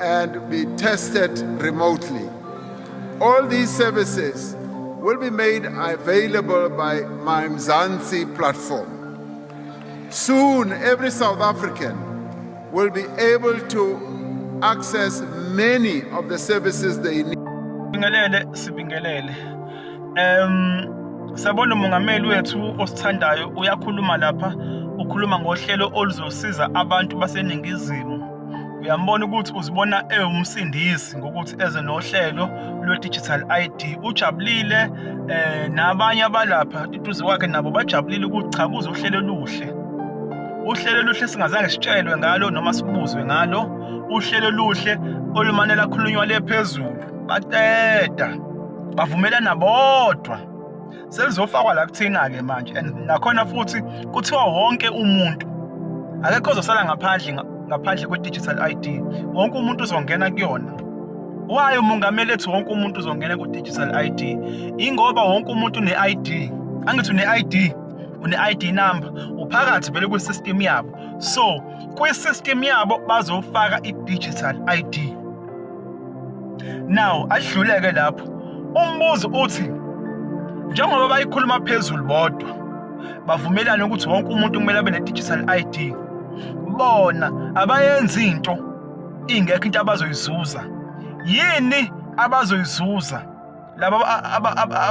and be tested remotely. All these services will be made available by my Mzansi platform. Soon, every South African will be able to access many of the services they need. Sibingelele, sibingelele. Um, sabona umongameli wethu osithandayo uyakhuluma lapha ukhuluma ngohlelo oluzosiza abantu baseningizimu uyambona ukuthi uzibona ewumsindisi ngokuthi eze nohlelo lwe-digital ID ujabulile eh nabanye abalapha iduze kwakhe nabo bajabulile ukuthi cha kuze uhlelo oluhle uhlelo oluhle singazange sitshelwe ngalo noma sibuzwe ngalo uhlelo oluhle olumane lakhulunywa le phezulu baqeda bavumelana bodwa selizofakwa la kuthina-ke manje and nakhona futhi kuthiwa wonke umuntu akekho ozosala ngaphandle ngaphandle kwe-digital i d wonke umuntu uzongena kuyona wayo umongameli ethi wonke umuntu uzongena ku-digital i d ingoba wonke umuntu une-i d angithi une-i d une-i d number uphakathi vele kwi-system yabo so kwi-system yabo bazofaka i-digital i d Now ahluleke lapho. Umbuzo uthi njengoba bayikhuluma phezulu bodwa bavumelana ukuthi wonke umuntu kumele abe ne-digital ID bona abayenzi into ingekho into abazoyizuza yini abazoyizuza laba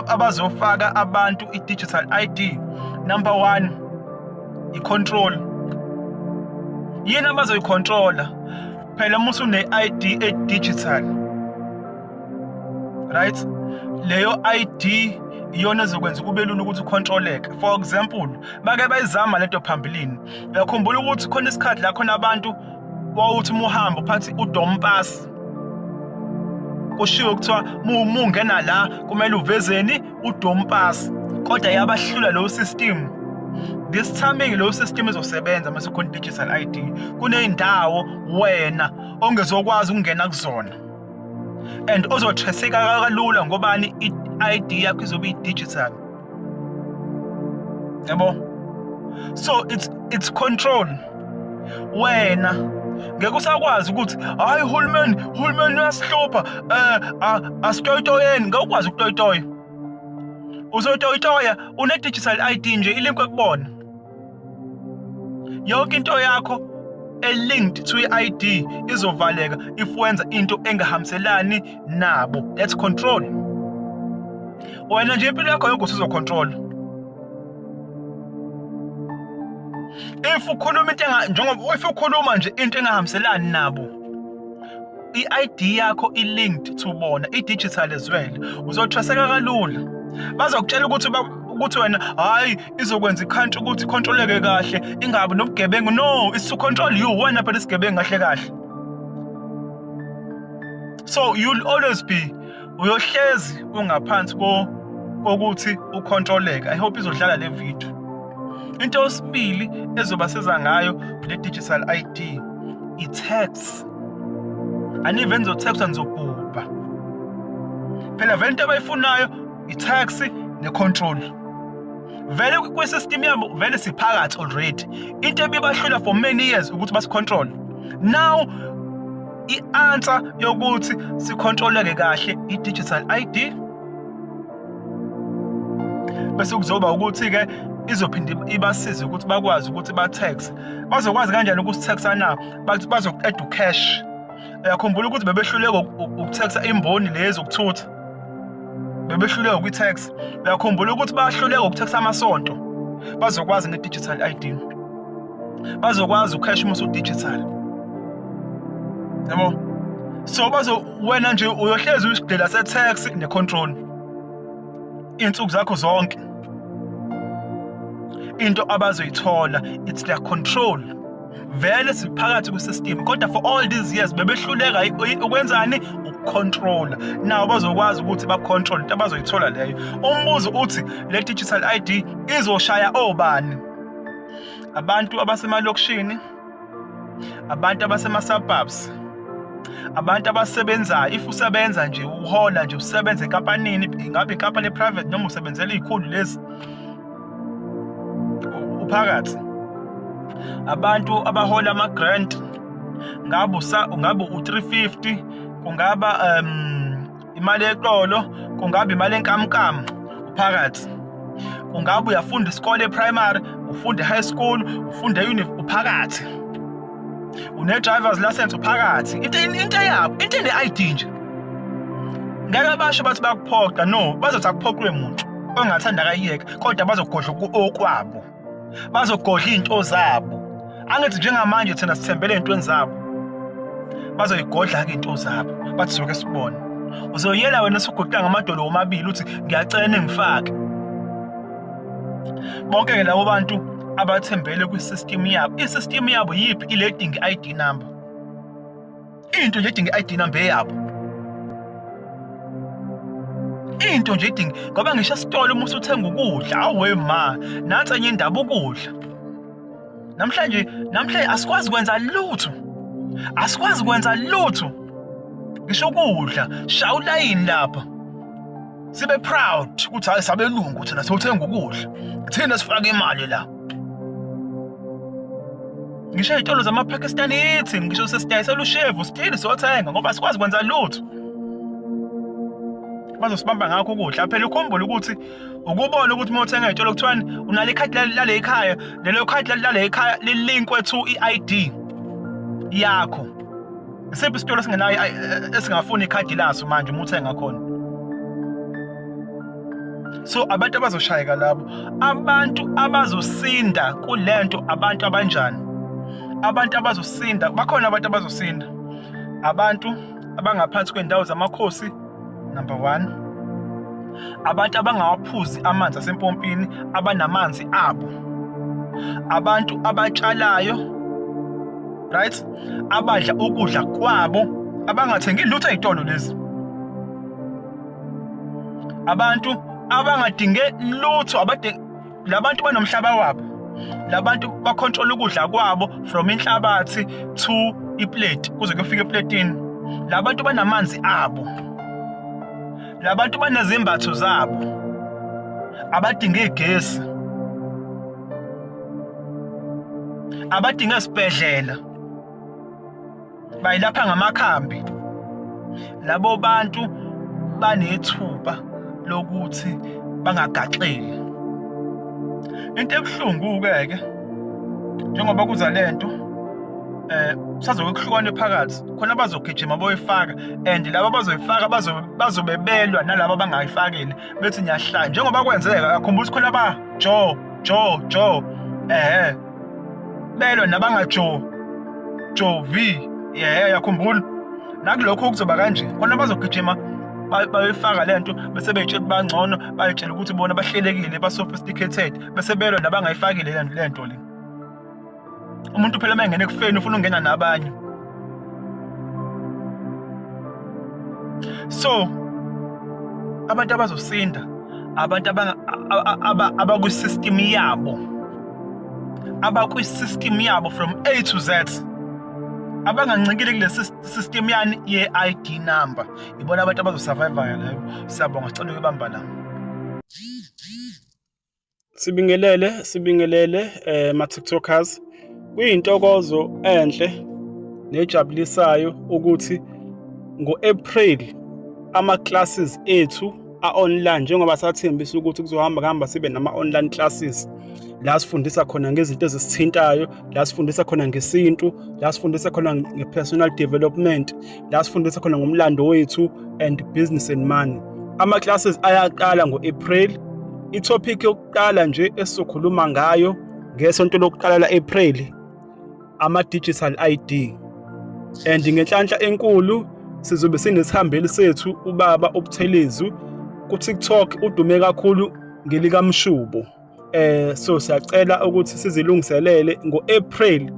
abazofaka abantu i-digital ID number one i-control yini abazoyicontrola phela uma usune-ID e-digital right leyo ID iyona ezokwenza kube lula ukuthi ukhontroleke for example bake bayizama lento phambilini uyakhumbula ukuthi khona isikhathi la khona abantu Wawuthi muhamba uphathi udompasi. Kushiwo kuthiwa mungena la kumele uvezeni udompasi. Kodwa yabahlula lo system. This timing lo system ezosebenza mase khona digital ID. Kuneyindawo wena ongezokwazi ukungena kuzona. And ozothreseka kalula ngobani i-ID yakho izobe i-digital. yabo so it's it's control wena ngeke usakwazi ukuthi hayi uhulumeni uhulumeni uyasihlupha um asitoyitoyeni ngeke ukwazi ukutoyitoya uzotoyitoya une-digital i d nje ilinke kubona yonke into yakho elinked to i-id izovaleka if wenza into engahambiselani nabo that's control wena nje impilo yakho yonke usizocontrola if ukhuluma into njengoba if ukhuluma nje into engahambiselani nabo i-id yakho i-linked to bona i-digital as well uzothweseka kalula bazokutshela ukuthi ukuthi wena hayi izokwenza ikhantri ukuthi ikhontroleke kahle ingabi nobugebengu no is to control you wena phela isigebengu kahle kahle so you'll always be uyohlezi ungaphansi ko kokuthi ukhontroleke i hope izodlala le video into osibili ezoba siza ngayo le digital ID i tax anive nizothexwa nizobhubha phela vele into abayifunayo i-tax ne-control vele kwi-system yabo vele siphakathi already into ebibahlula for many years ukuthi basi-control now i-answer yokuthi sikhontroleke kahle i-digital ID bese kuzoba ukuthi-ke izophinde ibasize ukuthi bakwazi ukuthi ba-tax bazokwazi kanjani ukusithaxa na bazoqeda ucash uyakhumbula ukuthi bebehluleka ukuthaxa imboni lezi ukuthutha bebehluleka kwi-tax uyakhumbula ukuthi bahluleka ukuthaxa amasonto bazokwazi nge-digital ID bazokwazi ucash uma usu-digital yabo so bazo wena nje uyohlezi uyisidela se-tax ne-control iy'nsuku zakho zonke into abazoyithola it's their control vele siphakathi kwisystem kodwa for all these years bebehluleka ukwenzani ukucontrola nawo bazokwazi ukuthi bacontrol into abazoyithola leyo umbuzo uthi le digital id izoshaya obani abantu abasemalokishini abantu abasema-suburbs abantu abasebenzayo if usebenza nje uhola nje usebenza enkampanini ingabe inkampani e-private noma usebenzela iy'khulu lezi uphakathi abantu abahola ama-grant ngabe ngabe u-350 kungaba um imali eqolo kungaba imali enkamnkam uphakathi kungaba uyafunda isikole e-primary ufunde high school ufunde uphakathi une-drivers license uphakathi into into yabo into ene-id nje ngeke abasho bathi bakuphoqa no bazothi akuphoqwe muntu ongathanda akayiyeka kodwa bazogodla okwabo bazogodla iy'nto zabo angithi njengamanje thina sithembele ey'ntweni zabo bazoyigodla-ke iy'nto zabo bathi soke sibone uzoyela wena suguqula ngamadolo womabili uthi ngiyacela ningifake bonke-ke labo bantu abathembele kwi-system yabo i-system yabo yiphi ile dinga i-id number into nje idinga i-id number eyabo into nje idinga ngoba ngisho esitolo uma usuthenga ukudla awe ma nansi enye indaba ukudla namhlanje namhlanje asikwazi kwenza lutho asikwazi kwenza lutho ngisho ukudla shaya ulayini lapha sibe proud ukuthi hayi sabelungu thina sothenga ukudla thina sifaka imali la ngisho izitolo zamaPakistan ithi ngisho sesidayisela ushevu sithini sothenga ngoba sikwazi kwenza lutho bazosibamba ngakho ukudla phela ukhumbule ukuthi ukubona ukuthi uma uthenga izitolo kuthiwani unale khadi lale ekhaya lelo khadi lale ekhaya lilinkwe to i-ID yakho isiphi isitolo esingenayo esingafuni ikhadi laso manje uma uthenga khona so abantu abazoshayeka labo abantu abazosinda kulento abantu abanjani abantu abazosinda bakhona abantu abazosinda abantu abangaphansi kwendawo zamakhosi number one abantu abangawaphuzi amanzi asempompini abanamanzi abo abantu abatshalayo right abadla ukudla kwabo abangathengi lutho ezitolo lezi abantu abangadinge lutho abadinge labantu banomhlaba wabo labantu bacontrol ukudla kwabo from inhlabathi to iplate kuze kufike eplatini labantu banamanzi abo labantu banezimbatho zabo abadinga igesi abadinga isibhedlela bayilapha ngamakhambi labo bantu banethuba lokuthi bangagaxeli into ebuhlungu-ke ke njengoba kuza le nto eh sazoke kuhlukane phakathi khona bazogijima boyifaka and laba bazoyifaka bazobe belwa nalaba abangayifakile bethi ngiyahlaya njengoba kwenzeka akhumbula ukuthi khona ba jo jo jo ehe belwe nabangajovi yehe yakhumbula nakulokho kuzoba kanje khona bazogijima bayifaka le nto bese beyitshela bangcono bayitshela ukuthi bona bahlelekile ba-sophisticated bese belwa nabangayifakile le nto le umuntu phela uma engene kufeni ufuna ukungena nabanye so abantu abazosinda abantu abakwisystem yabo abakwisystem yabo from a to z abangancikile kule system yani ye-id number ibona abantu abazosurvive-a leyo siyabonga sicela ukubamba la Sibingelele, sibingelele eh ma TikTokers. Kuyintokozo enhle nejabulisayo ukuthi ngo-April ama-classes ethu a-online njengoba sathembisa ukuthi kuzohamba kuhamba sibe nama-online classes la sifundisa khona ngezinto ezisithintayo la sifundisa khona ngesintu la sifundisa khona nge-personal development la sifundisa khona ngomlando wethu and business and money ama-classes ayaqala ngo-april ithophikhi yokuqala nje esizokhuluma ngayo ngesonto lokuqala la-april ama-digital id and ngenhlanhla enkulu sizobe sinesihambeli sethu ubaba ubuthelezi kuTikTok udume kakhulu ngelikamshubo eh so siyacela ukuthi sizilungiselele ngo-April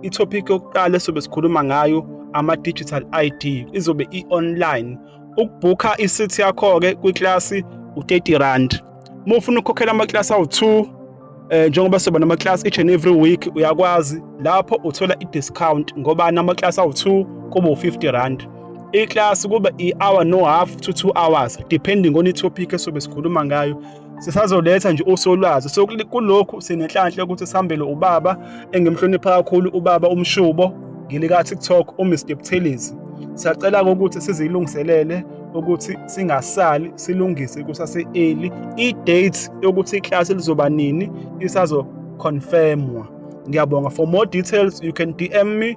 itopic yokuqala esobe sikhuluma ngayo ama-digital ID izobe i-online ukubhukha isithi yakho-ke kwiklasi u-30 rand uma ufuna ukukhokhela amaklasi awu-2 eh njengoba soba namaklasi each and every week uyakwazi lapho uthola i-discount ngoba namaklasi awu-2 kuba u-50 rand iklasi kuba i-hour no half to two hours depending on itopic esobe sikhuluma ngayo sisazoletha nje usolwazi so kulokhu sinenhlanhla ukuthi sihambele ubaba engimhlonipha kakhulu ubaba umshubo ngilika TikTok uMr Buthelezi siyacela ukuthi sizilungiselele ukuthi singasali silungise kusase early i date yokuthi iclass lizoba nini isazo confirmwa ngiyabonga for more details you can DM me